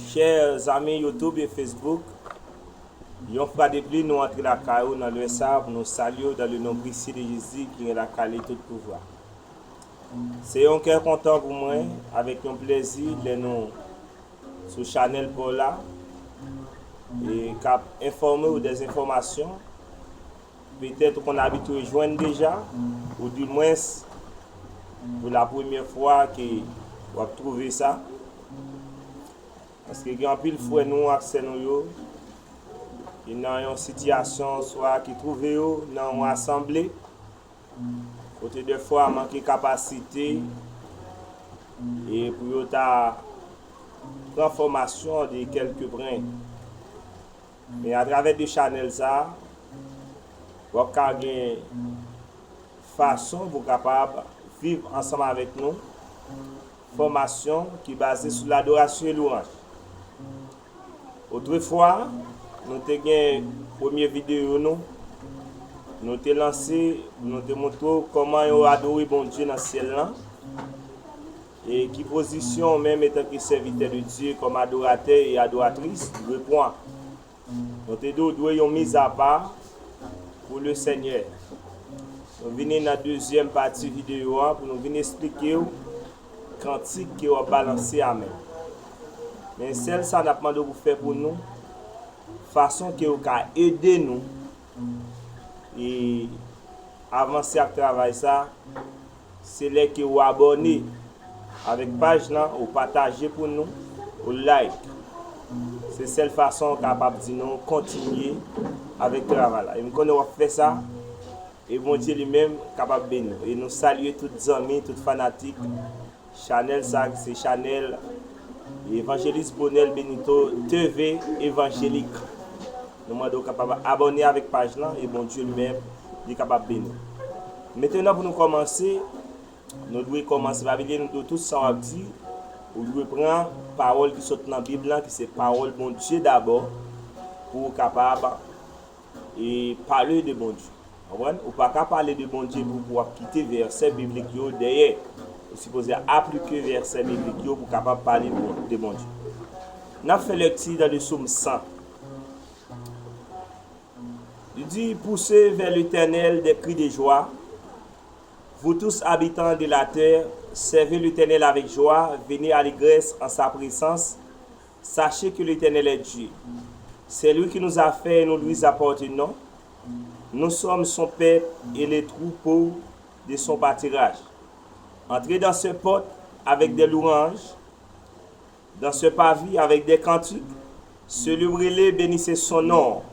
Chè zanmi YouTube e Facebook, yon fra de pli nou antre lakay ou nan lè sa a pou nou salye ou dan le non presye de Jezi ki gen lakay li tout pouvwa. Se yon kè kontan pou mwen, avèk yon plèzi lè nou sou chanèl pa w la e k ap enfòme ou dèzinfòmasyon, Petèt ou konn abitwe jwenn deja, ou di mwens pou la premyè fwa ke w ap twouve sa. Paske gen anpil frè nou ak sè nou yo ki nan yon sitiyasyon oswa ki twouve yo nan yon asanble kote dèfwa manke kapasite e pou yo ta pran fòmasyon de kèlkepren. E a travè 2 chanèl sa, wap ka gen fason pou kapab viv ansanm avèk nou fòmasyon ki baze sou ladorasyon e louranj. Otrefwa, nou te gen premye videyo nou, nou te lanse, nou te montre w kòman yo adore Bondye nan syèl lan. E ki pozisyon ou menm etanke sèvitè de Dye, kòm adoratè e adoratris, dwe pwan? Nou te di w dwe yon mizapa pou le Senyè. Nou vini nan dezyèm pati videyo an pou nou vin esplike w kantik ke w ap balanse a menm. Men sèl sa n ap mande w pou fè pou nou, fason ke ou ka ede nou e avanse ak travay sa, Se lè ke ou abòne avèk paj lan, ou pataje pou nou, ou like. Se sèl fason ou kapab di nou kontinye avèk travay la. E m konnen w ap fè sa, e Bondye li menm kapab beni w. E nou salye tout zanmi, tout fanatik chanèl sa ki se chanèl Evangeliste Bonel Benito TV Evangelique. Nou mande w kapab abòne avèk paj lan e Bondye li menm li kapab beni w. Metenan pou nou kòmanse, nou dwe kòmanse pa bliye nou dwe tout sa w ap di, ou dwe pran pawòl ki sot nan Bib lan ki se pawòl Bondye dabò pou ou kapab e pale de Bondye. Konprann? Ou pa ka pale de Bondye epi w ap kite vèsè biblik yo dèyè. Ou sipoze aplike vèsè biblik yo pou w kapab pale de Bondye. N ap fè lèkti nan de Som 100. Li di, Pouse vè Letènèl dè kri de jwa, vou tous abitan de latè, sève Letènèl avèk jwa, veni alegrès an sa presans, sache ke Letènèl è Dye. Sè lwi ki nous a fè e nou luis appartenon, nou sòm son pèp e le troupo de son patiraj. Antre dan sè pòt avèk dè louranj. Dansè pa vi avèk dè kantik, seli w rele beni se son non w.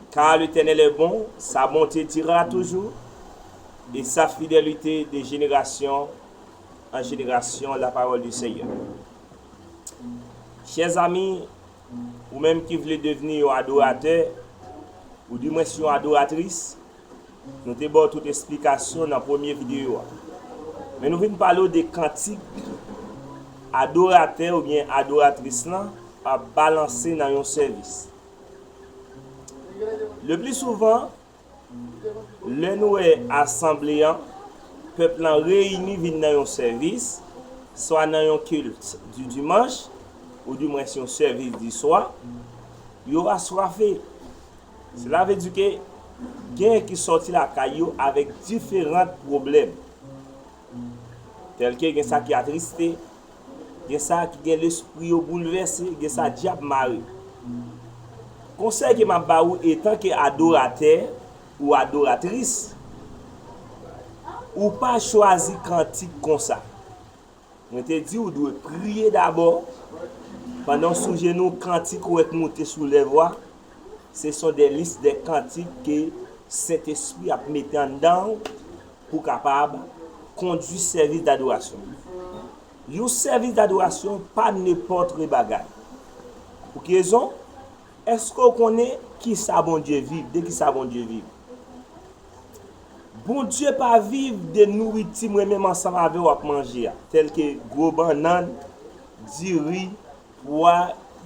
Ka Letènèl è bon, sa bonte dira toujou, e sa fidèlite de jenerasyon an jenerasyon la parole du Seigneur. Chè zami, ou menm ki vle devni yon adoratè, ou di mwens yon adoratris, Nou te ba w tout esplikasyon nan premye videyo a. Men nou vin pale w de kantik adoratè oubyen adoratris lan ap balanse nan yon sèvis. Lepli souvan, lè nou wè asanble an, pèp lan reyini vin nan yon sèvis, swa nan yon kilt di dimanch, oudimwens yon sèvis di swa, yo aswafe. Sela vle di ke genyen ki sòti lakay yo avèk diferant pwoblèm. Tèlke gen sa ki atriste, gen sa ki gen lespri yo boulvèse, gen sa dyab mare. Konsèy ke map ba ou etan ke adoratè ou adoratris, ou pa chwazi kantik konsa. Mwen te di ou dwe priye dabò, pandan w sou jenou kantik ou wè k moute sou lèv ou a, se son dè lis dè kantik ke Sentespri ap mete anndan ou pou w kapab kondwi sèvis dadorasyon. Yon sèvis dadorasyon pa nenpòtre bagay. Pou ki rezon? Eske ou konnen kisa Bondye viv, de kisa Bondye viv? Bondye pa viv de nouriti mwen menm ansanm avè w ap manje a, tèlke gwo bannann, diri, pwa,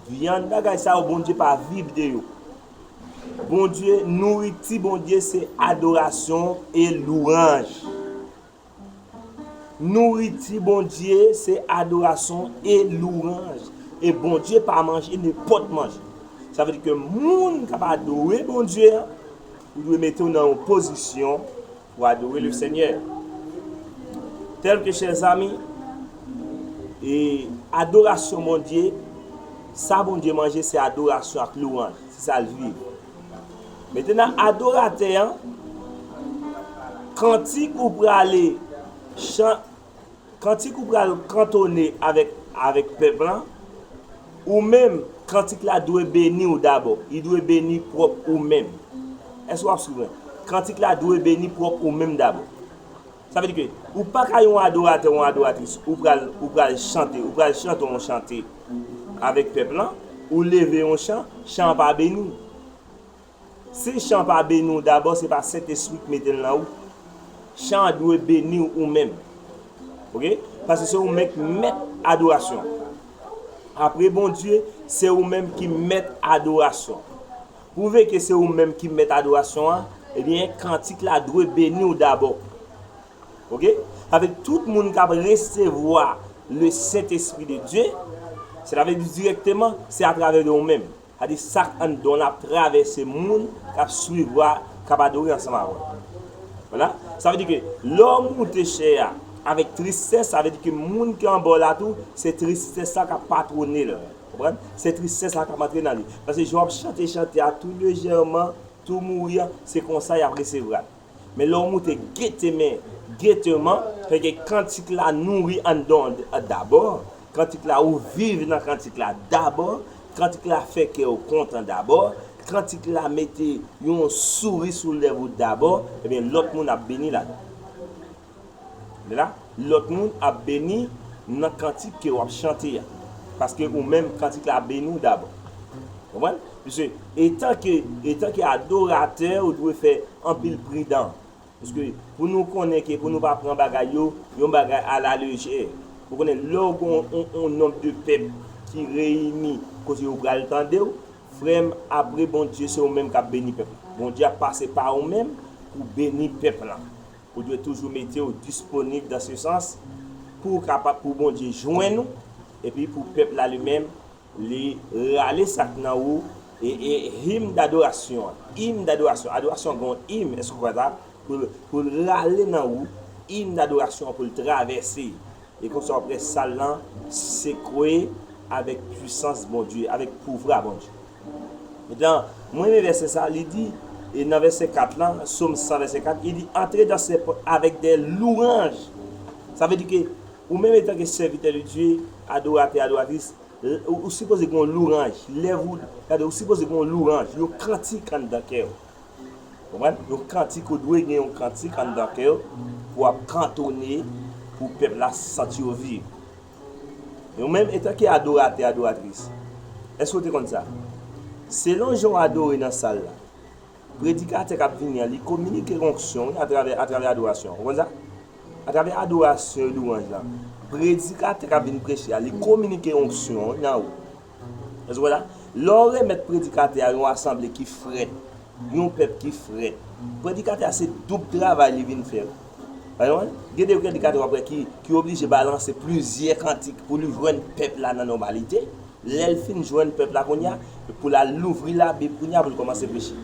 vyann, bagay sa yo Bondye pa viv de yo. Bondye, nouriti Bondye se adorasyon e louranj. Nouriti Bondye se adorason e louranj. E Bondye pa manje nenpòt manje. Sa vle di ke moun k ap adore Bondye an, ou dwe mete w nan yon pozisyon pou w adore Lesenyè. Tèlke chèzami, e adorasyon Bondye, sa Bondye manje se adorasyon ak louranj. Se sa l viv. Mete nan adoratè an, kantik ou prale chan, kantik ou pral kantone avèk avèk pèp lan, ou menm kantik la dwe beni ou dabò, li dwe beni pwòp ou menm. Èske w ap suiv mwen? Kantik la dwe beni pwòp ou menm dabò. Sa vle di ke ou pa ka yon adoratè ou yon adoratris ou pral ou pral chante ou pral chante yon chante avèk pèp lan ou leve yon chan, chan an pa beni. Si chan pa beni w dabò se pa Sentespri ki mete l nan ou. Chan an dwe beni w ou menm. Ok, paske se ou menm ki mèt adorasyon. Apre Bondye, se ou menm ki mèt adorasyon. Pwouve ke se ou menm ki mèt adorasyon an, ebyen kantik la dwe beni w dabò. Ok? Sa vle di tout moun k ap resevwa le Sentespri de Dye, seta vle di dirèkteman, se atravè de ou menm. Sa di sa k anndan w la ap travèse moun k ap swiv w a, k ap adore ansanm avè w. Wala. Sa vle di ke lè w moute chè a avèk tristès, sa vle di ke moun ki anba w la tou, se tristès la k ap patwone l. Konprann? Se tristès la k ap antre nan li. Paske jan w ap chante chante a tou lejèman, tou mouri an, se konsa y ap resevra l. Men lè w moute getemen, geteman, fè ke kantik la nouri anndan w dabò, kantik la ou viv nan kantik la dabò, kantik la fè kè w kontan dabò, kantik la mete yon souri sou lèv ou dabò, ebyen lòt moun ap beni ladan l. la, lòt moun ap beni nan kantik ke wap chante a, paske ou menm kantik la ap beni w dabò. Konprann? Pise, etan ke, etan ke adoratè ou dwe fè anpil pridan, pise pou nou konnen ke pou nou pa pran bagay yo, yon bagay a la lejè. Ou konnen lè ou gen yon nonb de pèp ki reyini kote yo pral tande w, frè m apre Bondye se ou menm kap beni pèp la. Bondye ap pase pa ou menm pou beni pèp la. Ou dwe toujou mete w disponib dan se sans pou w kapab pou Bondye jwenn ou epi pou pèp la li menm li rale sa k nan ou e e him dadorasyon an him dadorasyon adorasyon an gen yon him èske w kwè sa pou l pou l rale nan ou him dadorasyon an pou l travèse E konsa w près sal lan sekwe avèk pwisans Bondye, avèk pouvra Bondye. Metan, mwen renmen vèsè sa a, li di, e nan vèsè 4 lan, Psaume 100 vèsè 4, li di, antre dan se pòt avèk dè louranj. Sa vle di ke ou menm etanke sèvitè de Dye, adoratè, adoratris, ou sipoze gen yon louranj, lèv ou, gade, ou sipoze gen yon louranj, yon kantik anndan kè ou. Konprann? Yon kantik ou dwe gen yon kantik anndan kèw pou wap kantone pou pèp la santi yo viv. E ou menm etanke adoratè, adoratris, èske ou te konn sa? Selon jan w adore nan sal la, predikatè kap vini an li kominike onksyon wi atravè atravè adorasyon an. Ou konn sa? Atravè adorasyon e louwanj la, predikatè kap vin preche a li kominike onksyon wi nan ou. Lè w remèt predikatè a yon asanble ki frèt, yon pèp ki frèt, predikatè a se doub travay li vin fè. Gen de predikatè w ap wè ki oblije balanse plizyè kantik pou li jwenn pèp la nan nòmalite. Lè l fin jwenn pèp la kounye a, pou l al louvri Labib kounye a pou l kòmanse preche.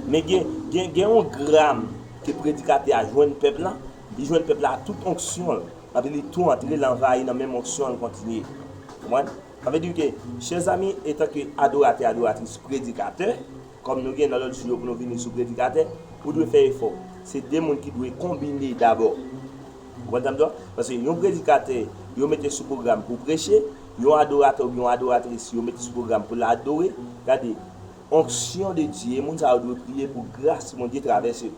Men gen yon gram ke predikatè a jwenn pèp la, li jwenn pèp la ak tout onksyon l, epi li tou antre, li anvayi nan menm onksyon l kontinye. Sa vle di ke, chè zanmi, etanke adoratè, adoratris, predikatè, kòm nou gen nan lòt jou yo pou nou vini sou predikatè, ou dwe fè efò. Se de moun ki dwe konbine dabò. Ou konprann sa m di w la? Paske yon predikatè, yo mete sou pwogram pou preche, yon adoratè oubyen yon adoratris, yo mete sou pwogram pou l adore. Gade, onksyon de Dye, moun sa yo dwe priye pou gras Bondye travèse yo.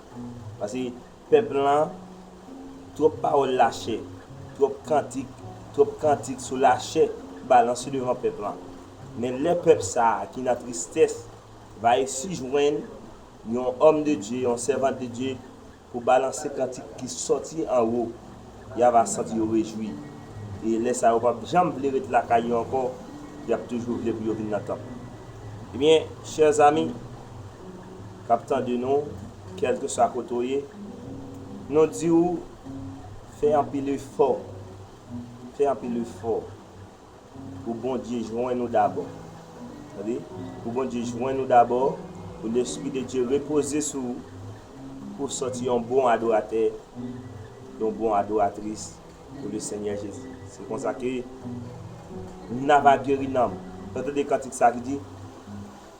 Paske. Pèp lan, twòp pawòl lache, twòp kantik, twòp kantik sou lachè balanse devan pèp lan. Men lè pèp sa a ki nan tristès va resi jwenn yon òm de Dye, yon sèvant de Dye pou balanse kantik ki sòti anwo, y a va santi yo rejwi. E lè sa yo p ap janm vle ret lakay yo ankò, y ap toujou vle pou yo vin nan tanp. Ebyen, chè zami, Kap tande nou kelkeswa kote ou ye nou diw fè anpil efò fè anpil efò pou Bondye jwenn ou dabò tande pou Bondye jwenn ou dabò pou lespri de Dye repoze sou ou pouw sòti yon bon adoratè yon bon adoratris pou le senyè Jezi se konsa ke nava geri nanm nou tande kantik sa ki di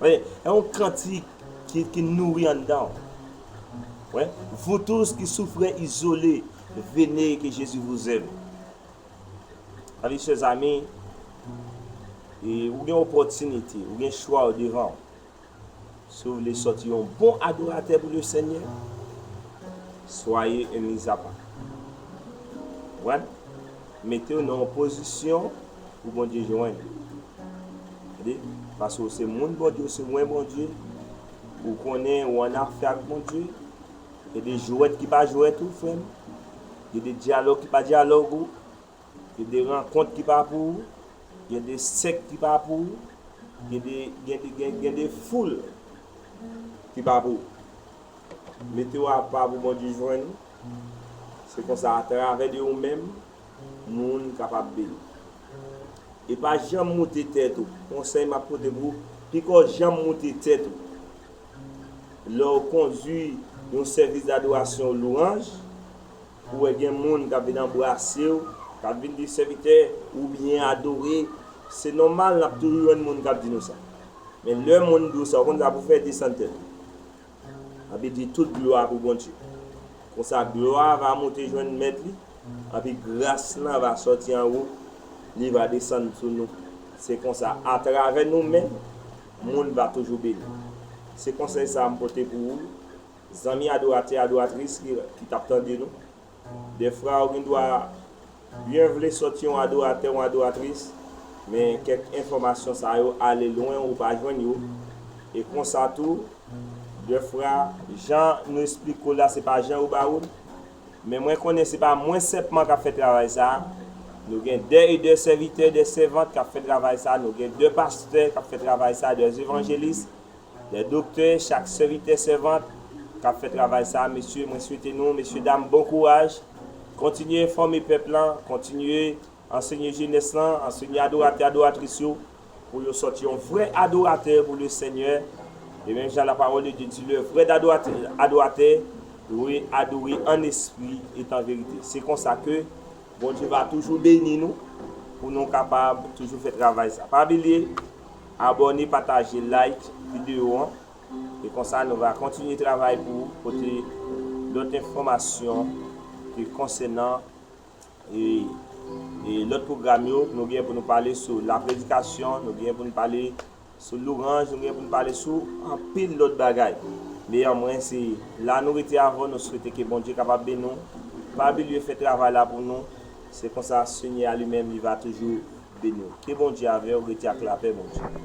Wè, e yon kantik ki nouri anndan w. Wè, vou tous ki soufrè izole, vene ke Jezi vous aime. Avi chè zami, e ou gen opòtinite, ou gen chwa ou devan w. Si ou vle sòti yon bon adoratè pou le Senyè, soyez un mis à part. Wè? Mete w nan yon pozisyon pou Bondye jwenn ou. Tande, paske ou se moun Bondye, ou se wen Bondye, ou konnen ou annafè ak Bondye, gen de jwèt ki pa jwèt ou frè m, gen de dyalòg ki pa dyalòg ou, gen de rankont ki pa pou ou, gen de sèk ki pa pou ou, gen de, gen de, gen, gen de foul ki pa pou ou. Mete w apa pou Bondye jwenn ou. Se konsa atravè de ou menm moun kapab beni. E pa janm moute tèt ou. Konsèy map pote pou ou, piko janm moute tèt ou. Lè ou kondwi yon sèvis dadorasyon ou lwanj, ou wè gen moun kap vin anbrase ou, kap vin di sèvitè ou byen adore, se nòmal nap toujou jwenn moun kap di nou sa. Men lè moun di ou sa ou konn sa pou fè, desann tèt ou. Anpi di, Tout glwa pou Bondye. Konsa, glwa a va moute jwenn Mèt li, anpi gras lan va sòti anwo, li va desann sou nou. Se konsa, atravè nou menm, moun va toujou beni. Se konsèy sa a m pote pou ou, zanmi adoratè, adoratris ki t ap tande nou. Dèfra ou gen dwa byen vle sòt yon adoratè, yon adoratris, men kèk enfòmasyon sa yo ale lwen ou pa jwenn yo, e konsa tou, dèfra, jan nou esplike ou la se pa jan yo ba ou l, men mwen konnen se pa mwen senpman k ap fè travay sa a, nou gen dè e dè sèvitè, dè sèvant k ap fè travay sa a, nou gen dè pastè k ap fè travay sa a, dè evanjelis, Lè doktè chak sèvitè sèvant kap fè travay sa mesye mwen swete nou mesye dam bon kouraj kontinye enfòme pèp lan kontinye ansenye jenès lan ansenye adoratè adoratris yo pou yo sòti yon vrè adoratè pou le senyè e menm jan la parole de Dieu di le vrè adoratè dwe adore an espri et an verite se konsa ke Bondye va toujou beni nou pou nou kapab toujou fè travay sa pa bilye Abòne pataje like video an e konsa nou va kontinye travay pou pote lòt enfòmasyon ke konsènan e lòt pwogram yo nou gen pou nou pale sou la predikasyon nou gen pou nou pale sou louranj nou gen pou nou pale sou anpil lòt bagay meyè mwen se la nou rete avèw nou swete ke Bondye kapab beni w pa bilye fè travay la pou nou. Se konsa Senyè a li menm li va toujou beniw. Ke Bondye avèw rete ak lapè Bondye.